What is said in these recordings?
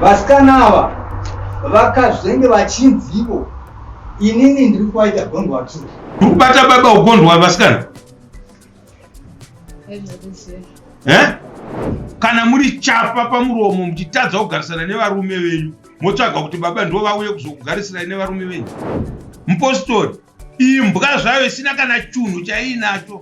Vasikana ava vakazvenge vachinzi ivo inini ndiri kuvaita gondwa tu. Ndiri kubata baba ugondwa vasikana. Eh? Kana muri chapa pamuromo muchitadza kugarisana nevarume venyu motsvaga kuti baba ndivo vauye kuzokugarisirai nevarume venyu. Mupostori imbwa zvayo isina kana chunhu chaiinacho.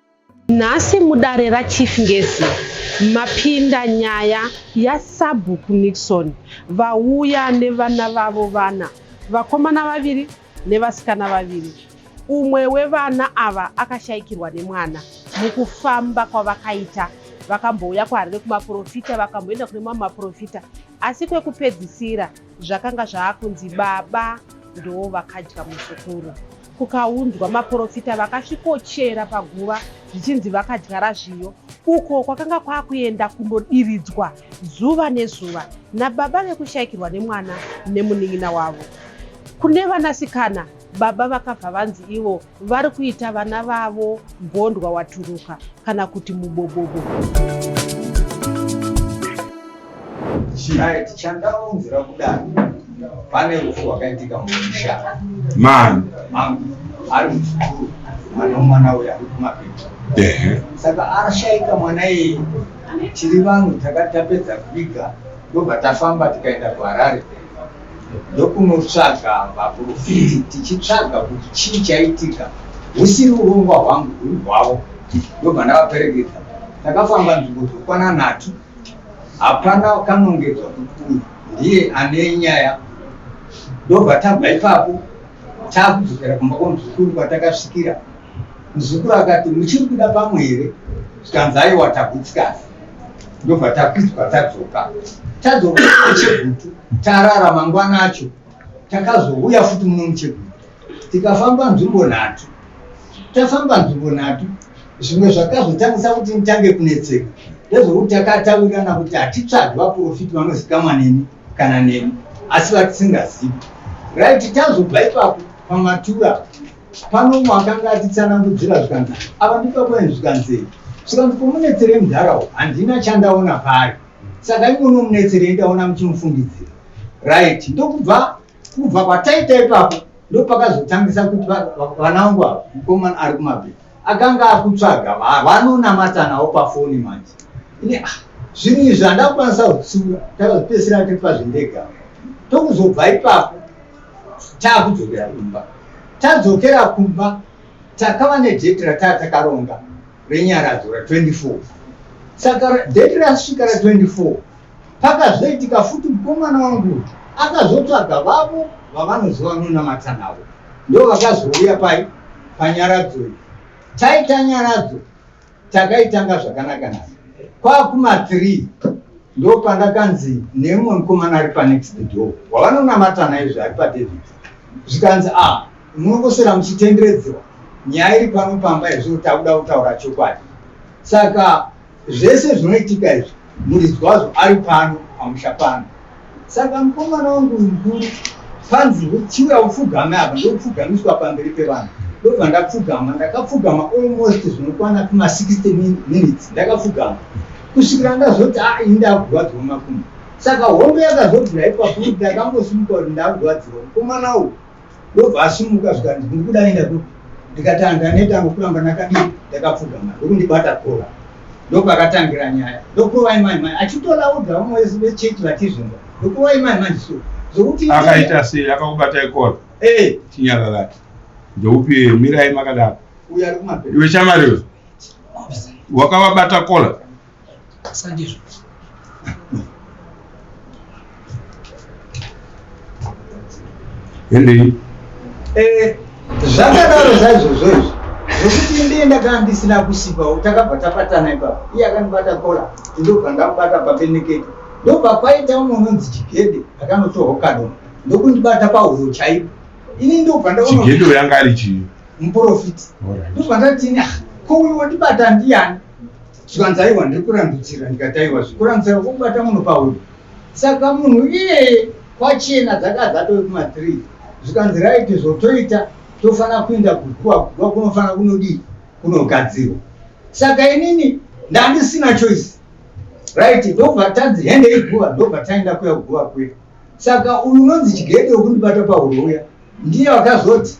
Nhasi mudare raChief Ngezi mapinda nyaya yaSabhuku Nixon vauya nevana vavo vana, vakomana vaviri nevasikana vaviri. Umwe wevana ava akashaikirwa nemwana mukufamba kwavakaita vakambouya kwaHarare kumaporofita vakamboenda kune mamwe maporofita asi kwekupedzisira Zvakanga zvaakunzi baba ndoo vakadya muzukuru. Kukaunzwa maporofita vakasvikochera paguva zvichinzi vakadya razviyo uko kwakanga kwakuenda kundodiridzwa zuva nezuva nababa vekushaikirwa nemwana nemunin'ina wavo. Kune vanasikana baba vakabva vanzi ivo Vari kuita vana vavo gondwa waturuka kana kuti mubobobo. Chiaiti chandaunzira kudai pane rufu rwakaitika mumusha mani mangu ari muzukuru mwana wemwana uyo ari kumapeto ehe saka ashaika mwana iyi tiri vanhu takati tapedza kuviga ndobva tafamba tikaenda kuharare ndokunotsvaga vaprofiti tichitsvaga kuti chii chaitika husiri urongwa hwangu huri hwavo ndobva ndavaperekedza takafamba nzvimbo dzokwana nhatu hapana kanongedzwa kuti uyu ndiye ane nyaya ndobva tabva ipapo taakudzokera kumba kwamuzukuru kwatakasvikira muzukuru akati muchiri kuda pamwe here zvikanzi aiwa tagutsikazi ndobva takwidzwa tadzoka tadzoka muchegutu tarara mangwana acho takazouya futi muno muchegutu tikafamba nzvimbo nhatu tafamba nzvimbo nhatu zvimwe zvakazotangisa kuti nditange kunetseka ndezvokuti takataurirana kuti hatitsvagi vaprofiti vanozikamwa nemi kana nemi asi vatisingazivi right tazoba ipapo pamatura Pano umwe akanga achitsanangudzira zvikanzi, ava ndibaba ini zvikanzi, zvikanzi pomunetsere mudhara uyu handina chandaona paari saka imono munetserei ndaona muchimufungidzira right ndokubva kubva kwataita ipapo ndopakazotangisa kuti vana vangu ava mukomana ari kumabhii akanga akutsvaga vanonamata nawo pafoni manje ini ah, zvinhu izvi handakwanisa kutsura takazopesera tiri pazvindega tokuzobva ipapo Taakudzokera kumba. Tadzokera kumba takava nedate rataa takaronga renyaradzo ra 24 saka date rasvika ra 24 pakazoitika futi mukomana wangu akazotsvaga vavo vavanoziva vanonamata navo ndo vakazouya pai panyaradzo iyi taita nyaradzo takaitanga zvakanaka nhasi kwakuma 3 ndo pandakanzi nemumwe mukomana ari panext door wavanonamata naizvo ari padavid zvikanzi a ah, munongosera muchitenderedzewa nyaya iri pano pamba izvo takuda kutaura chokwadi saka zvese zvinoitika izvi Muridzwazvo ari pano pamusha pano. Saka mukomana wangu uyu mukuru panzi chiuya upfugame apa ndokupfugamiswa pamberi pevanhu ndobva ndapfugama ndakapfugama almost zvinokwana kuma 60 minutes ndakapfugama kusvikira ndazoti a ah, ini ndakurwadziwa makumbo saka hombe yakazobvira ipapo kuti ndakambosimuka kuti ndakurwadziwa mukomana uyu ndobva asimuka zvikanzi ndikuda enda kupi ndikati andaneta angu kuramba nakadii ndakapfugama ndokundibata kora ndopakatangira nyaya ndokurovai mai mai achitola oga vamwe vese vechechi vatizvimba ndokurovai mai mai so zvokuti akaita sei akakubata ikora ee eh. chinyararati ndoupi mirai makadaro uyo ari kumabhedhi iwe chamariwe wakavabata kola sandizvo endei eh, zvakadaro zvaizvozvo izvi zvekuti ndiye ndakanga ndisina kusipawo takabva tapatana ipapo iye akandibata kola ndobva ndamubata papenekete ndobva kwaita umwe unonzi chigede akanotorwa kado ndokundibata pahuro chaipo ini ndobva ndaonachigede uyanga ari chii muprofiti ndobva ndatini ah, ko uyu wondibata ndiyani Zvikanzaiwa ndiri kurambidzira ndikataiwa zvikurambidzira kwokubata munhu pahuro saka munhu iye kwachena dzaka dzatove kuma three zvikanzi raiti zvotoita tofanira kuenda kuguva kuguva kunofanira kunodii kunogadzirwa saka inini ndandisina choice right ndobva tanzi hende iguva ndobva taenda kuya kuguva kuya saka uyu unonzi chigede wekundibata pahuro uya Ndiye wakazoti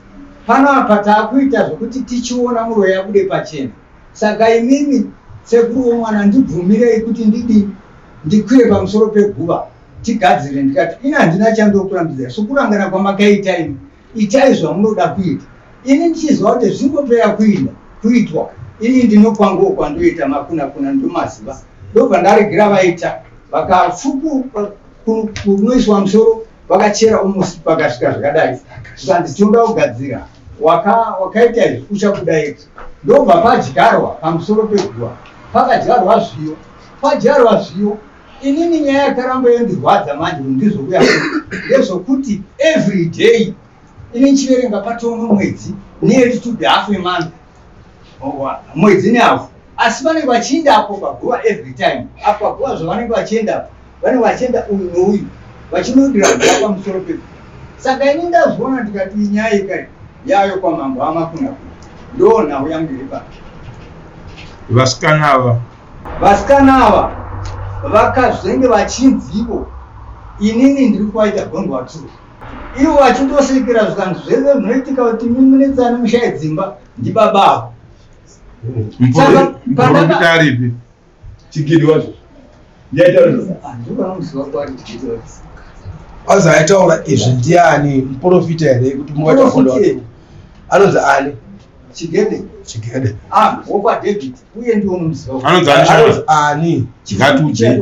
pano apa takuita zvekuti tichiona muroyi abude pachena saka imimi sekuru wemwana ndibvumirei kuti ndidii ndikwire pamusoro peguva tigadzire ndikati ini handina chandokurambidzai sokurangana kwamakaita imi itai zvamunoda kuita ini ndichiziva kuti zvingopera kuinda kuitwa ini ndinokwangawo kwandoita makuna kuna ndomaziva ndobva ndaregera vaita vakafuku kunoiswa musoro vakachera umusi pakasvika zvakadai zvikanzi tinoda kugadzira wakaita izvi uchabuda ega ndobva padyarwa pamusoro peguva pakadyarwa zviyo padyarwa zviyo inini nyaya yakaramba yondirwadza manje ndizvokuya ndezvokuti every day ini nchiverenga patono mwedzi neyetutude half emonth mwedzi nehafu asi vanenge vachienda apo paguva every time apo paguva zvavanenge vachienda apo vanenge vachienda uyu nouyu vachinodira guva pamusoro peku saka ini ndazviona ndikati nyaya ikai yayo kwamambo amakuna ndo nhau yangu iri pake vasikana ava vasikana ava vakazenge vachinzi ivo inini ndiri kuvaita gondwa two ivo vachindosvikira zvikanzi zvese zvinoitika kuti mimunetsani mushaye dzimba ndibaba avo muporoitaripi chigidi wacho azi aitaura izvi ndiani muprofita here kuti mungataura anonzi ani chigede chigede ah wokwa david uye ndiwo muziva anonzi ani ngatiudze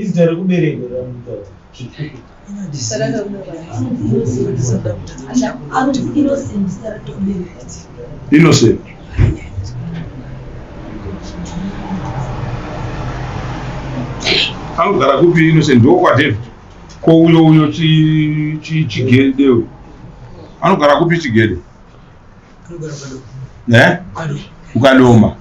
izita rekuberekwa ramutata zvikuku innocent anogara kupi innocent ndokwadev ko uyo uyo chigede anogara kupi chigede eh? ukadoma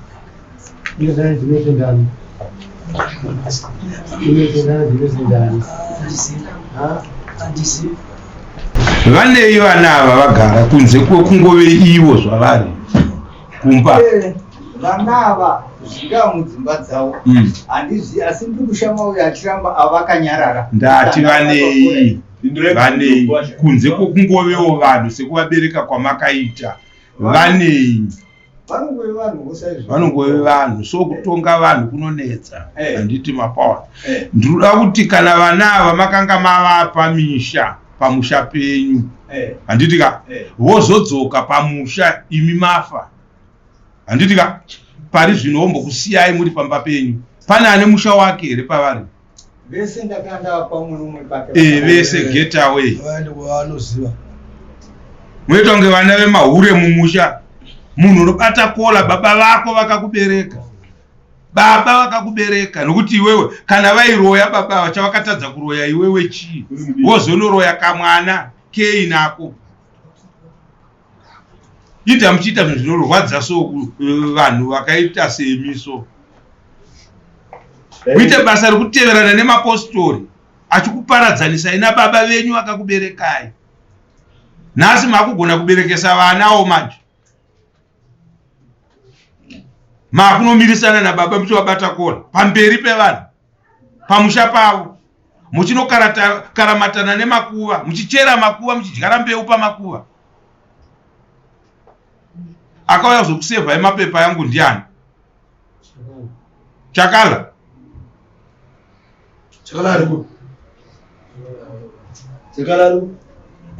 vanei vana ava vagara kunze kwekungove ivo zvavari kumba eh, vana ava zvingaa mudzimba dzavo hmm. handizi asi ndiri kushama uyo achiramba avakanyarara ndati vanei vanei kunze kwokungovewo vanhu sekuvabereka kwamakaita vanei vanongove vanhu so kutonga vanhu kunonetsa eh. handiti hey. mapaona hey. Eh. ndinoda kuti kana vana ava makanga mavapa misha pamusha penyu eh. handiti ka vozodzoka hey. hey. pamusha imi mafa handiti ka pari zvino vombokusiyai muri pamba penyu pane ane musha wake here pavari vese ndakanda pamwe umwe pake eh vese get away vaende kwavanoziva munoita kunge vana vemahure mumusha munhu unobata kola baba vako vakakubereka baba vakakubereka nokuti iwewe kana vairoya baba vachavakatadza kuroya iwewe chii wozonoroya kamwana kei nako ita muchiita zvinhu zvinorwadza so eh, vanhu vakaita semi so kuita basa rekuteverana nemapostori achikuparadzanisai nababa venyu akakuberekai nhasi makugona kuberekesa vana wo manje makunomirisana nababa muchivabata kona pamberi pevanhu pamusha pavo muchinokaramatana nemakuva muchichera makuva muchidyara mbeu pamakuva akauya kuzokusevhai mapepa yangu ndiani chakala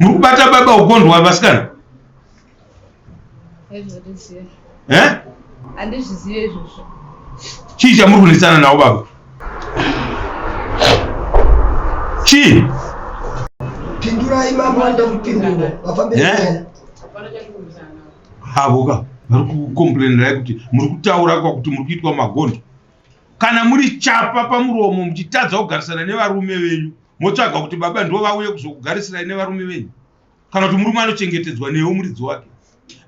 muri kubata baba ugondwa vasikana handizvizive izvozvo chii chamuri kunetsana nawo baba chii pindurai mambo vanoda kupindura vafambira havoka vari kukomplainerai kuti muri kutaura kwakuti muri kuitwa magondo kana muri chapa pamuromo muchitadza kugarisana nevarume venyu motsvaga kuti baba ndo vauye kuzokugarisirai nevarume venyu kana kuti murume anochengetedzwa newo muridzi wake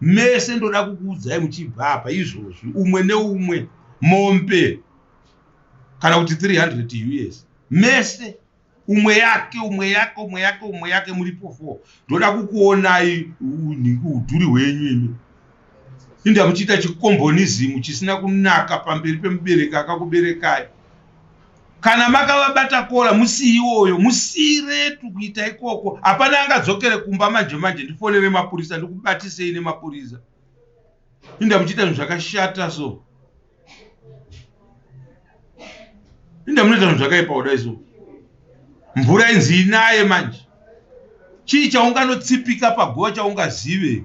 mese ndoda kukuudzai muchibva apa izvozvi umwe neumwe mombe kana kuti 300 us mese umwe yake umwe yake umwe yake umwe yake muripo four ndoda kukuonai udhuri hwenyu imi indi amuchiita chikombonizimu chisina kunaka pamberi pemubereki akakuberekai kana makavabata kora musiiwoyo musiiretu kuita ikoko hapana angadzokere kumba manje manje ndifonere mapurisa ndikubatisei nemapurisa inda muchiita zvinhu zvakashata so inda munoita zvinhu zvakaipa kudai so mvura inzi inaye manje chii chaunganotsipika paguva chaungazive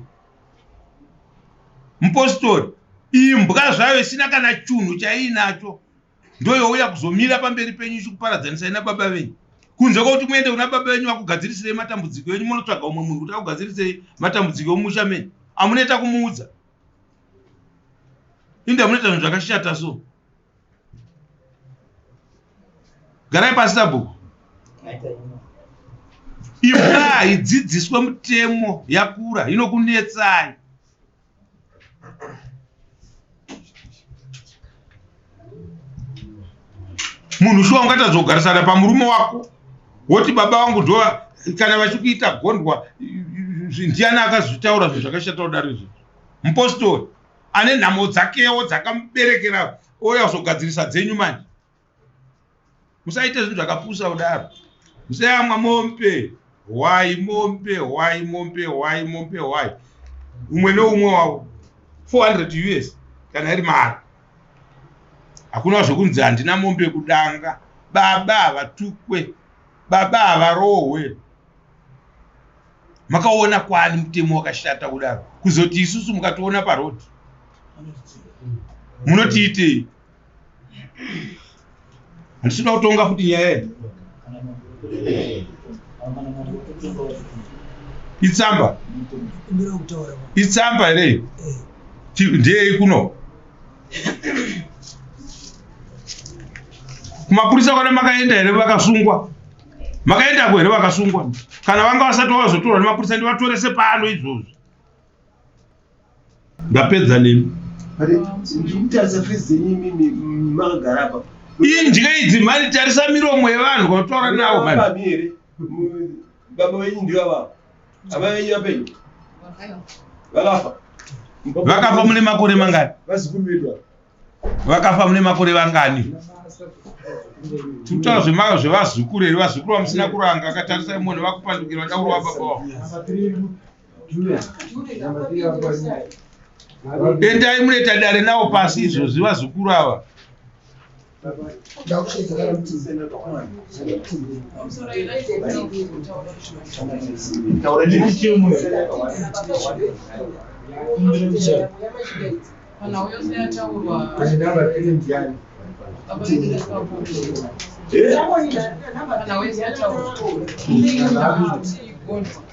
mupostori imbwa zvayo isina kana chunhu chaiinacho ndoyouya kuzomira pamberi penyu ichikuparadzanisai nababa venyu kunze kwekuti muende kuna baba venyu vakugadzirisirei matambudziko enyu munotsvaga umwe munhu kuti akugadzirisei matambudziko emumusha menyu amunoita kumuudza inde amunoita zvinhu zvakashata so garai pasi sabhuku imbwa haidzidziswe mutemo yakura inokunetsai munhu shuwa ungatadza kugarisana pamurume wako woti baba vangu ndo kana vachikuita gondwa ndiani akazvitaura zvinhu zvakashata kudaro izvi mupostori ane nhamo dzakewo dzakamuberekera oya kuzogadzirisa dzenyu manje musaite zvinhu zvakapusa kudaro musayamwa mombe hwai mombe hwai mombe hwai mombe hwai umwe neumwe wavo 400 us kana iri mari hakuna zvekunzi handina mombe kudanga baba havatukwe baba havarohwe makaona kwani mutemo wakashata kudaro kuzoti isusu mukationa parodi munotiitei Handisi kuda kutonga futi nyaya yedu. Itsamba. Itsamba here iyo? Ndiyei kuno? Kumapurisa kwana makaenda here vakasungwa? Makaendako here vakasungwa? Kana vanga vasati vazotorwa nemapurisa ndivatorese pano izvozvo. ndapedza nemi indye idzi mani tarisa miromo yevanhu vataura navo vakafa mune makore mangani vakafa mune makore vangani tikutaura zvemaka zvevazukuru here vazukuru vamusina kuranga akatarisa imoni vakupandukira vadaurwa baba wavo Endai munoita dare nawo pasi izvozvi vazukuru ava. Kana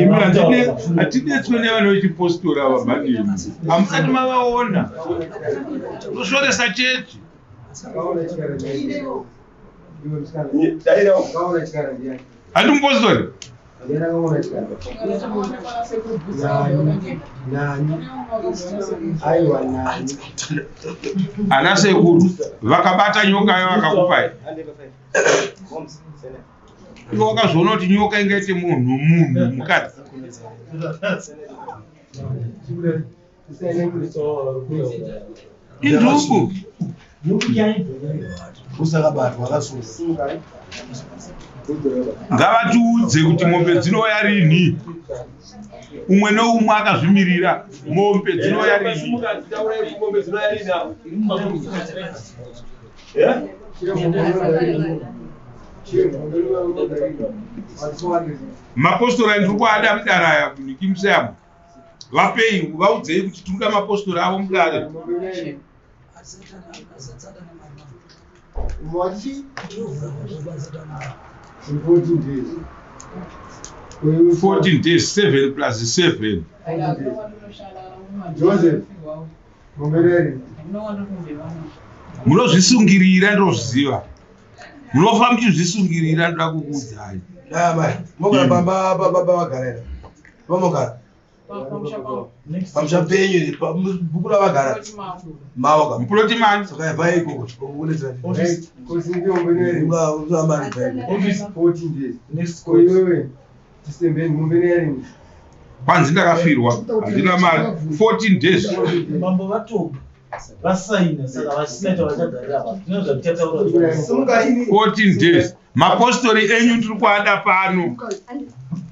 imi hatidetswe nevana vechipostora ava mhani imi hamusati mavaona tosvoresa chechi handi mupostori ana sekuru vakabata nyoka yo vakakupai iwe wakazviona kuti nyoka ingaite munhu munhu mukadzi induku ngavatiudze kuti mombe dzinouya rini umwe noumwe akazvimirira mombe dzinouya rini Yeah? mapostora ndiri kuada mudare aya kunikimse avo vapei vaudzei kuti tiri kuda mapostora avo mudare fourteen days seven plus seven Joseph. munozvisungirira ndozviziva munofa muchizvisungirira ndoda kukuudzai pamusha penyu bhuku ravagara maoka mukuloti mani saka vai ikoko kwanzi ndakafirwa handina mari 14 days mambo vatoba vasaina saka vasina chavachagarira vanhu zvino zvatichataura 14 days mapostori enyu tiri kuada pano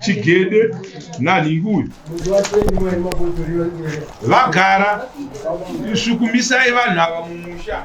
chigede nanhingi uyu vagara svukumisai vanhu ava mumusha